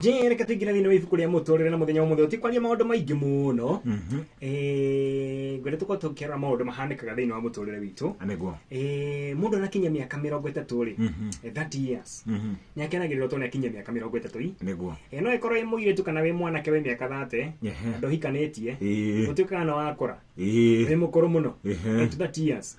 Jane, reke tũingĩre thĩinĩ wa ibuku rĩa mũtũrĩre na mũthenya wa mũthenya tikwaria maũndũ maingĩ mũno ngwenda tũkorwo tũkĩrora maũndũ mahanĩkaga thĩinĩ wa mũtũrĩre witũ nĩguo Eh, mũndũ anakinya mĩaka mĩrongo ĩtatũ rĩ Mhm. eh, 30 years Mhm. nĩ akenagĩrĩrwo tondũ nĩ akinyia mĩaka mĩrongo ĩtatũ i nĩguo Eh, no ĩkorwo ĩ mũirĩtu kana wĩ mwanake wĩ mĩaka thate Ehe. andũ hikanĩtie Ĩĩ. ũtuĩkaga na wakora Ĩĩ. wĩ mũkũrũ mũno Ehe. Eh, to 30 years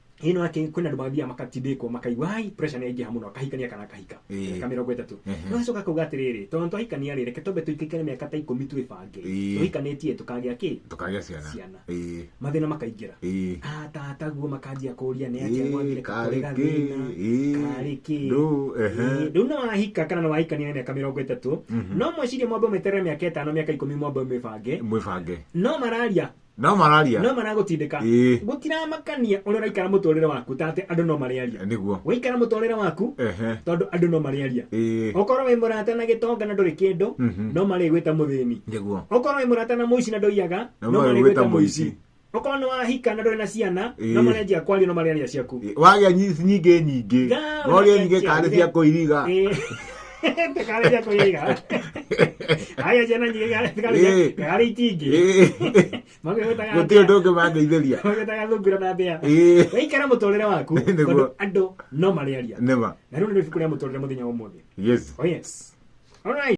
ino ati kwina andu mathia makatindikwo makaigua ai pressure ni yaingĩha mũno akahikania kana akahika Ĩĩ. mĩaka mĩrongo ĩtatũ Ehe. no acoka akauga atĩrĩrĩ tondũ twahikania rĩ reke twambe tũikaikare mĩaka ta ikũmi twĩbange Ĩĩ. tũhikanĩtie tũkagĩa kĩ tukagĩa ciana Ciana. Ĩĩ, mathĩna makaingĩra ĩĩ. atataguo makanjia kũria nĩ atia Ĩĩ, mwambire karĩ kũrega kĩ, thĩna ĩĩ, karĩ kĩ ndũ, ehe. Ĩĩ, rĩu nĩ wahika kana nĩ wahikania na mĩaka mĩrongo ĩtatũ no mwecirie mwambe meterere mĩaka ĩtano mĩaka ikũmi mwambe mwĩbange mwĩbange no mararia no mararia no maragũtindĩka Ĩĩ. gũtiramakania ũrĩa ũraikara mũtũrĩre waku ta atĩ andũ no marĩaria niguo waikara mũtũrĩre waku ehe tondũ andũ no marĩaria ĩĩ okorwo wĩ mũrata na gĩtonga na ndũrĩ kĩndũ Mhm. no marĩgwĩta mũthĩni niguo okorwo wĩ mũrata na mũici na ndũiyaga No no marĩgwĩta marĩgwĩta mũici mũici. okorwo nĩ wahika na ndũrĩ na ciana Ĩĩ. no marenjia kwaria no marĩaria ciaku Ĩĩ, wagĩa nyi- nyingĩ nyingĩ Gaa, no rĩe nyingĩ wagĩa karĩ cia nyingĩ. kũiriga Ĩĩ. Te kare ya koye ga. Aya jana ni ga te kare ya. Kare itingi. Mage weta ga. Gutio ndoke mangeithĩria. Mage ta ga thungura na mbea. Wei kara mutorere waku. Tondu andu no mariaria. Nima. Na riu ni ibuku ria mutorere muthenya wa umuthi. Yes. Oh yes. All right.